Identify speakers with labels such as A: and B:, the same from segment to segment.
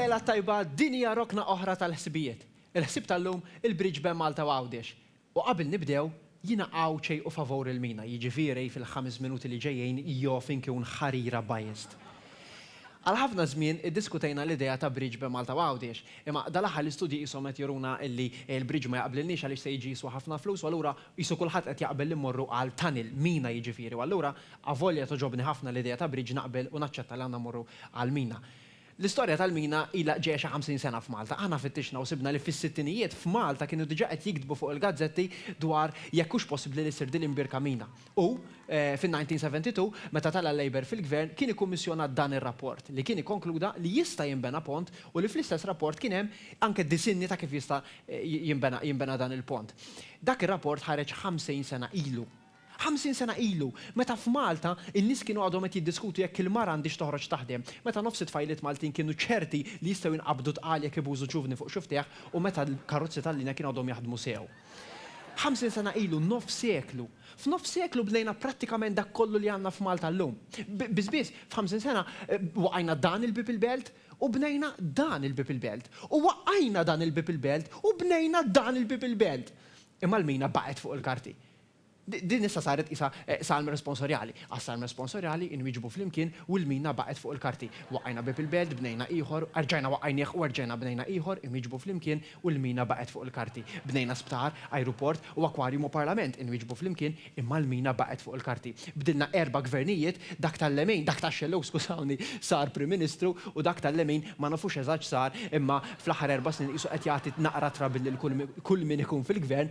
A: Lejla t-tajba, din hija rokna oħra tal-ħsibijiet. Il-ħsieb tal-lum, il-bridge bejn Malta u Għawdex. U qabel nibdew, jiena Għawdxej u favur il-Mina, jiġifieri fil-ħames minuti li ġejjin joff inkun ħarira biased. Għal ħafna żmien iddiskutejna l-idea ta' bridge bejn Malta u Għawdex, imma dal-aħħar l-istudji qishom qed juruna li l-bridge ma jaqblilniex għaliex se jiġi jiswa ħafna flus u allura qisu kulħadd qed jaqbel li mmorru għal tunnel, mina jiġifieri u allura avolja togħġobni ħafna l-idea ta' bridge naqbel u naċċetta li għandna mmorru għall-mina. L-istorja tal-mina ilha ġejja xi ħamsin sena f'Malta. Aħna fittixna u sibna li fis-sittinijiet f'Malta kienu diġà qed jiktbu fuq il-gazzetti dwar jekk hux possibbli li ssir din l-imbierka mina. U, fin-1972, meta tela' l-Labour fil-Gvern, kien ikkummissjonat dan ir-rapport, li kien ikkonkluda li jista' jinbena pont u li fl-istess rapport kien hemm anke disinni ta' kif jista' jinbena jinbena dan il-pont. Dak ir-rapport ħareġ ħamsin sena ilu. Ħamsin sena ilu, meta f'Malta n-nies kienu għadhom qed jiddiskutu jekk il-mara għandhiex toħroġ taħdem, meta nofs it-tfajliet Maltin kienu ċerti li jistgħu jinqabdu tqal jekk ibużu ċuvni fuq xi ftieħ u meta l-karozzi tal-linja kienu għadhom jaħdmu sew. Ħamsin sena ilu, nofs seklu! F'nofs seklu bnejna prattikament dak kollu li għandna f'Malta llum. Biss biss, f'ħamsin sena, waqajna dan il-bieb il-belt u bnejna dan il-bieb il-belt. U waqajna dan il-bieb il-belt u bnejna dan il-bieb il-belt. Imma l-mina baqgħet fuq il-karti. Din issa saret qisha salm responsorjali. Għas-salm responsorjali inwieġbu flimkien u l-mina baqgħet fuq il-karti. Waqqajna bieb il-belt, bnejna ieħor, erġajna waqqajnieh u erġajna bnejna ieħor, inwieġbu flimkien u l-mina baqgħet fuq il-karti. Bnejna sptar, ajruport u akwarjum u parlament, inwieġbu flimkien, imma l-mina baqgħet fuq il-karti. Bdilna erba' gvernijiet, dak tal-lemin, dak tax-xellug skużawni, sar Prim Ministru u dak tal-lemin ma nafux eżatt x'sar imma fl-aħħar erba' snin qisu qed jagħti naqra trouble lil kull min ikun fil-gvern.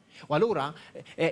A: U allura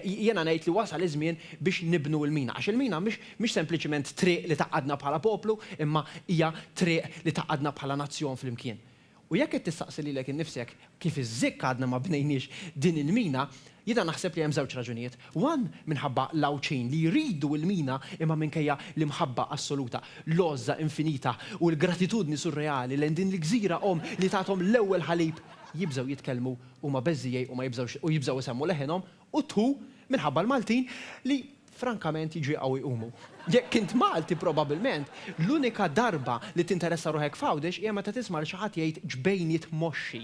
A: jiena ngħid li wasal iż-żmien biex nibnu l-mina, għax il-mina mhix sempliċiment triq li tgħaqqadna bħala poplu, imma hija triq li tgħaqqadna bħala nazzjon flimkien. U jekk qed tistaqsi lilek innifsek kif iż-żikk għadna ma bnejniex din il-mina, jiena naħseb li hemm żewġ raġunijiet. One, minħabba l-Għawdxin li jridu l-mina imma minkejja l-imħabba assoluta, l-għożża infinita u l-gratitudni surreali lejn din il-gżira omm li tathom l-ewwel ħalib, jibżgħu jitkellmu huma beżżiegħi u ma jibżgħux u jibżgħu jsemmu leħinhom u tħu minħabba l-Maltin li frankament jġieqgħu jqumu. Jekk int Malti probabilment l-unika darba li tinteressa ruħek f'Għawdex hija meta tisma' lil xi ħadd jgħid ġbejniet moxxi.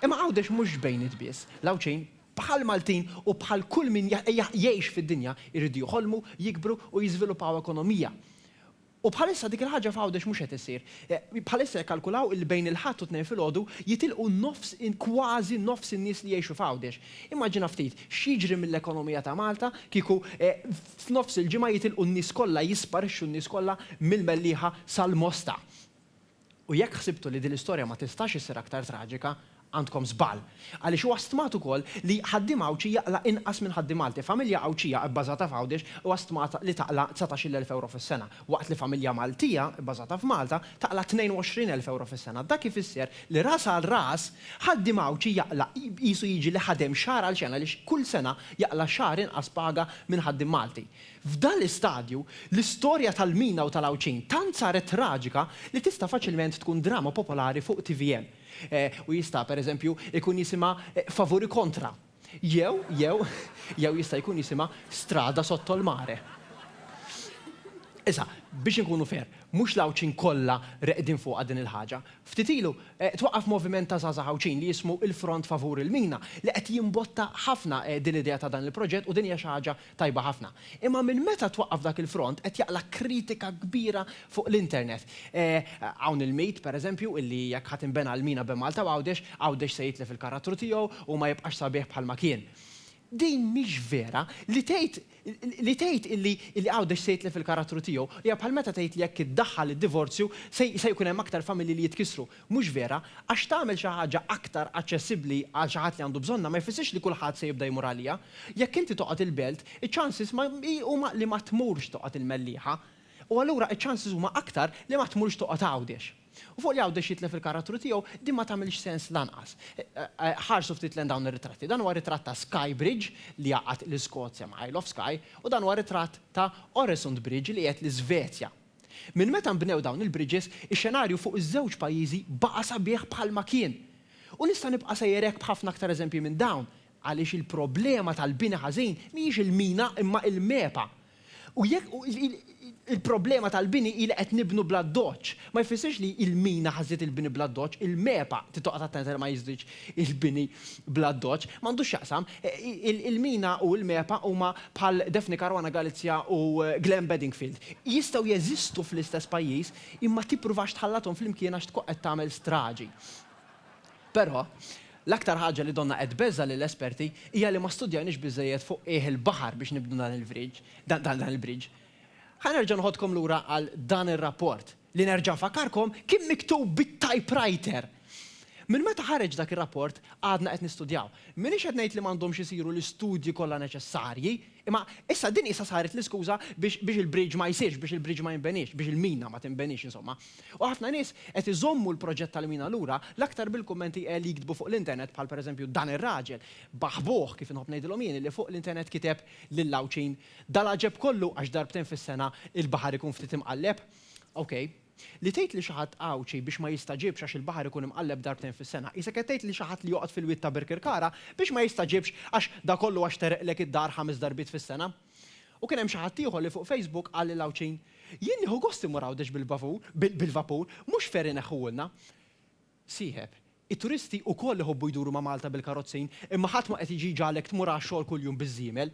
A: Imma Għawdex mhux ġbejniet biss, l-Għawdxin bħall-Maltin u bħal kull min jgħix fid-dinja jridu jħolmu, jikbru u jiżviluppaw ekonomija U bħalissa dik il-ħaġa f'Għawdex mhux qed issir. Bħalissa jikkalkulaw illi bejn il-Ħadd u t-Tnejn filgħodu jitilqu nofs, kważi nofs in-nies li jgħixu f'Għawdex. Immaġina ftit x'jiġri mill-ekonomija ta' Malta kieku f'nofs il-ġimgħa jitilqu n-nies kollha, jisparixxu n-nies kollha mill-Mellieħa sal-Mosta. U jekk ħsibtu li din l-istorja ma tistax issir aktar traġika, għandkom żball. Għaliex huwa stmat ukoll li ħaddiem Għawdxi jaqla' inqas minn ħaddiem Malti. Familja Għawdxija bbażata f'Għawdex huwa stmat li taqla' dsatax-il elf ewro fis-sena, waqt li familja Maltija bbażata f'Malta taqla' tnejn u għoxrin elf ewro fis-sena. Dak ifisser li ras għal ras, ħaddiem Għawdxi jaqla' qisu jiġi li ħadem xahar għal xena għaliex kull sena jaqla' xahar inqas paga minn ħaddiem Malti. F'dan l-istadju, l-istorja tal-Mina u tal-Għawdxin tant saret traġika li tista' faċilment tkun drama popolari fuq tvm. U jista', per eżempju, ikun jisimha Favuri Kontra. Jew, jew, jew jista' jkun jisimha Strada Sotto il Mare. Issa, biex inkunu fair, mhux l-Għawdxin kollha reqdin fuqha din il-ħaġa. Ftit ilu, twaqqaf moviment ta' żgħażagħ Għawdxin li jismu Il-Front Favur il-Mina li qed jimbotta ħafna din l-idea ta' dan il-proġett u din hija xi ħaġa Tajba ħafna. Imma minn meta twaqqaf dak il-front qed jaqla' kritika kbira fuq l-internet. Hawn il-mit, per eżempju, illi jekk ħa tinbena l-mina bejn Malta u Għawdex, Għawdex se jitlef il-karattru tiegħu u ma jibqax sabiħ bħalma kien. Din mhix vera. Li tgħid li tgħid illi illi Għawdex se jitlef il-karattru tiegħu hija bħal meta tgħid li jekk iddaħħal id-divorzju se se jkun hemm aktar familji li jitkissru. Mhux vera, għax tagħmel xi ħaġa aktar aċċessibbli għal xi ħadd li għandu bżonnha ma jfissirx li kulħadd se jibda jmur għaliha. Jekk inti toqgħod il-Belt, iċ-chances ma huma li ma tmurx toqgħod il-Mellieħa. U allura iċ-chances huma aktar li ma tmurx toqgħod Għawdex. U fuq li Għawdex jitlef il-karattru tiegħu, din ma tagħmilx sens lanqas. Ħarsu ftit lejn dawn ir-ritratti. Dan huwa ritratt ta' Skye Bridge li jgħaqqad l-Iskozja ma' Isle of Skye u dan huwa ritratt ta' Oresund Bridge li jgħed l-Isvezja. Minn meta nbnew dawn il-bridges, ix-xenarju fuq iż-żewġ pajjiżi baqa' sabiħ bħalma kien. U nista' nibqa' sejjer hekk b'ħafna aktar eżempji minn dawn, għaliex il-problema tal-bini ħażin mhijiex il-mina imma il-MEPA. U jekk il-problema tal-bini hi li qed nibnu bl-addoċċ, ma jfissirx li l-mina ħażżiet il-bini bl-addoċċ, il-MEPA trid toqgħod attenta li ma jiżdidx Il-bini bl-addoċċ m'għandux x'jaqsam. Il-mina u l-MEPA huma bħal Daphne Caruana Galizia u Glen Bedingfield. Jistgħu jeżistu fl-istess pajjiż, imma tippruvax tħallathom flimkien għax tkun qed tagħmel straġi. Però, l-aktar ħaġa li donnha qed tbeżża' lill-esperti hija li ma studjajniex biżżejjed fuq qiegħ il-baħar biex nibnu dan il-bridge. Ħa nerġa' noħodkom lura għal dan ir-rapport. li nerġa' nfakkarkom, kien miktub bit-typewriter. Minn meta ħareġ dak ir-rapport, għadna qed nistudjaw. M'iniex qed ngħid li m'għandhomx isiru l-istudji kollha neċessarji, imma issa din qisha saret l-iskuża biex biex il-bridge ma jsirx, biex il-bridge ma jinbeniex, biex il-mina ma tinbeniex insomma. U ħafna nies qed iżommu l-proġett tal-mina lura, l-aktar bil-kummenti li jiktbu fuq l-internet bħal pereżempju dan ir-raġel, baħbuh kif inħobb ngħidilhom jien, li fuq l-internet kiteb lill-Għawdxin, Dal-għaġeb kollu għax darbtejn fis-sena l-baħar ikun ftit imqalleb? Ok. Li tgħid li xi ħadd Għawdxi biex ma jistaġibx għax il-baħar ikun imqalleb darbtejn fis-sena, qisek qed tgħid li xi ħadd li joqgħod fil-wied ta' Birkirkara biex ma jistaġibx għax da kollu għax tereqlek id-dar ħames darbiet fis-sena. U kien hemm xi ħadd ieħor li fuq Facebook qal lill-Għawdxin, Jien nieħu gost immur Għawdex bil-bavur, bil-vapur, mhux ferry ineħħuhulna. Sieħeb, It-turisti wkoll iħobbu jduru ma' Malta bil-karozzin, imma ħadd ma qed jiġi jġagħlek tmur għax-xogħol kuljum biż-żiemel.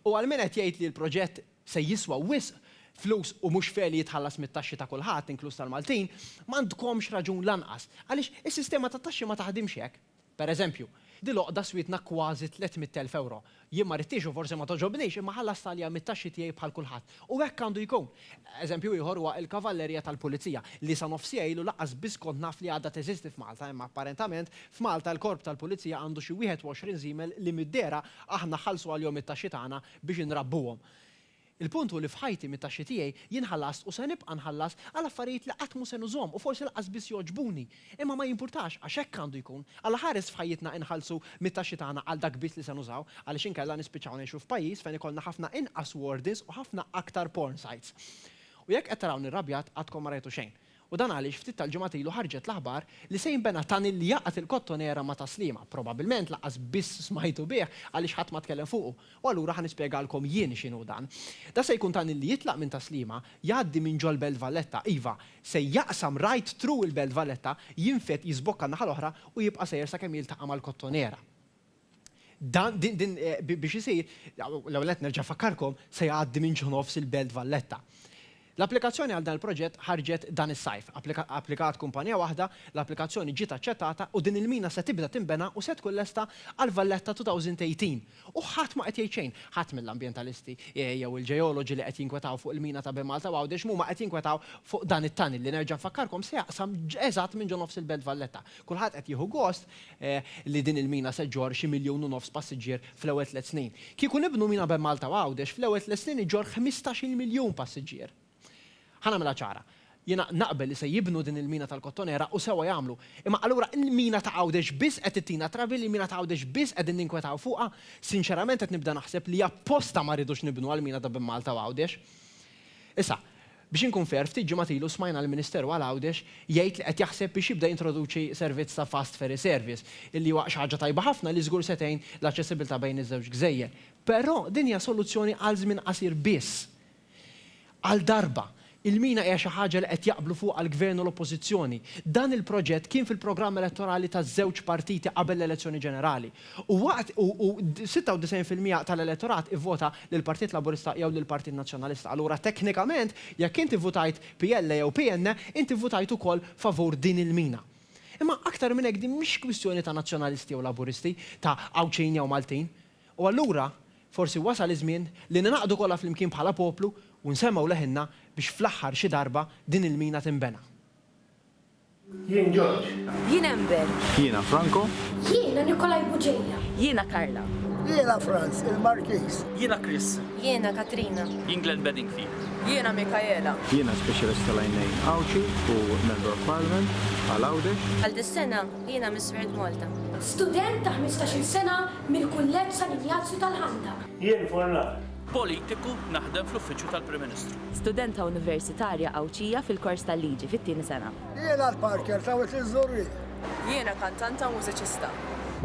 A: U għal min qed jgħid li l-proġett se jiswa wisq flus u mhux fair li jitħallas mit-taxxi ta' kulħadd, inkluż tal-Maltin, m'għandkomx raġun lanqas, għaliex is-sistema tat-taxxi ma taħdimx hekk. Per eżempju, dil-għoqda swietna kważi tliet mitt elf ewro. Jien ma ridtiex u forsi ma togħġobnix, imma ħallast għaliha mit-taxxi tiegħi bħal kulħadd. U hekk għandu jkun. Eżempju ieħor huwa il-Kavallerija tal-Pulizija, li sa nofs siegħa ilu lanqas biss kont naf li għadha teżisti f'Malta, imma apparentament f'Malta l-Korp tal-Pulizija għandu xi 21 żiemel li mid-dehra aħna nħallsu għalihom it-taxxi tagħna biex inrabbuhom. Il-punt hu li f'ħajti mit-taxxi tiegħi jien ħallast u se nibqa' nħallas għal affarijiet li qatt mhu se nużhom u forsi lanqas biss jogħġbuni. Imma ma jimpurtax, għax hekk għandu jkun. Alla ħares f'ħajjitna inħallsu mit-taxxi tagħna għal dak biss li se nużaw, għaliex inkella nispiċċaw ngħixu f'pajjiż fejn ikollna ħafna inqas wardens u ħafna aktar porn sites. U jekk qed tarawni rrabjat, għadkom ma rajtu xejn. U dan għaliex ftit tal-ġimgħat ilu ħarġet l-aħbar li se jinbena tunnel li jgħaqqad il-Kottonera ma' Tas-Sliema. Probabbilment lanqas biss smajtu bih għaliex ħadd ma tkellem fuqu. U allura ħa nispjegalkom jien x'inhu dan. Dan se jkun tunnel li jitlaq minn Tas-Sliema, jgħaddi minn ġol-Belt Valletta, iva, Se jaqsam right through il-Belt Valletta, jinfed, jiżbokka n-naħa l-oħra u jibqa' sejjer sakemm jiltaqa' mal-Kottonera. Dan, din, din, biex isir, l-ewwel nett nerġa' nfakkarkom, se jgħaddi minn ġo nofs il-Belt Valletta. L-applikazzjoni għal dan il-proġett ħarġet dan is-sajf. Applikat kumpanija waħda, l-applikazzjoni ġiet aċċettata u din il-mina se tibda tinbena u se tkun lesta għall-Valletta 2018. U ħadd ma qed jgħid xejn. Ħadd mill-ambjentalisti jew il-ġeoloġi li qed jinkwetaw fuq il-mina ta' Bemalta u Għawdex m'huma qed jinkwetaw fuq dan it-tunnel li nerġa' nfakkarkom se jaqsam eżatt minn ġo nofs il-Belt Valletta. Kulħadd qed jieħu gost li din il-mina se ġġorr xi miljun u nofs passiġġier fl-ewwel tliet snin. Kieku nibnu mina Bemalta u Għawdex fl-ewwel tliet snin iġġorr ħmistax-il miljun passiġġier. Ħa nagħmilha ċara. Jiena naqbel li se jibnu din il-mina tal-Kottonera u sewwa jagħmlu. Imma allura il-mina ta' Għawdex biss qed ttina trabi li l-mina ta' Għawdex biss qegħdin ninkwetaw fuqha? Sinċerament qed nibda naħseb li apposta ma rridux nibnu għall-mina ta' bejn Malta u Għawdex. Issa, biex inkun fair, ftit ġimgħat ilu smajna lill-Ministeru għal Għawdex jgħid li qed jaħseb biex jibda jintroduċi servizz ta' fast ferry service, illi huwa xi ħaġa tajba ħafna li żgur se tgħin l-aċċessibilità bejn iż-żewġ gżejjer. Però din hija soluzzjoni għal żmien qasir biss. Għal darba, il-mina hija xi ħaġa li qed jaqblu fuqha l-Gvern u l-Oppożizzjoni. Dan il-proġett kien fil-programm elettorali taż-żewġ partiti qabel l-elezzjoni ġenerali. U waqt u u 96 fil-miegħa tal-elettorat ivvota lill-Partit Laburista jew lill-Partit Nazzjonalista. Allura teknikament, jekk inti vvutajt PL jew PN, inti vvutajt ukoll favur din il-mina. Imma aktar minn hekk din mhix kwistjoni ta' Nazzjonalisti jew Laburisti, ta' Għawdxin jew Maltin. U allura, forsi wasal iż-żmien li ningħaqdu kollha flimkien bħala poplu u nsemmgħu leħinna biex fl-aħħar xi darba din il-mina tinbena.
B: Jien George. Jien
C: Amber. Jiena
D: Franco.
B: Jiena
C: Nikolai
E: Bugeja.
C: Jiena Carla.
E: Jiena Franz, il-Markiż. Jiena Chris.
D: Jiena Katrina.
C: Jien Glenn Bedingfield.
F: Jiena Mikaela.
C: Jiena Speċjalist
G: tal-Għajnejn Għawdxi u Member of Parliament għal Għawdex. Għal dis-sena,
C: jiena Miss World Malta. Student ta'
H: ħmistax-il sena Mill-Kulleġġ San Injazju tal-Ħandaq. Jien Furlan.
B: Politiku,
F: naħdem fl-Uffiċċju tal-Prim Ministru. Studenta Universitarja
I: Għawdxija fil-kors tal-Liġi, fit-tieni sena. Jiena l-Parker
E: ta' Wied iż-Żurrieq. Jiena
C: kantanta u mużiċista.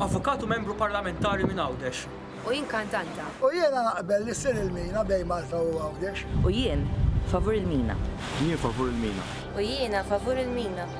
C: Avukat u Membru
D: Parlamentari minn Għawdex. U jien kantanta.
C: U jiena naqbel
E: li ssir il-mina bejn Malta u Għawdex. U jien
I: favur il-mina. Jien favur il-mina.
G: U jiena favur
C: il-mina.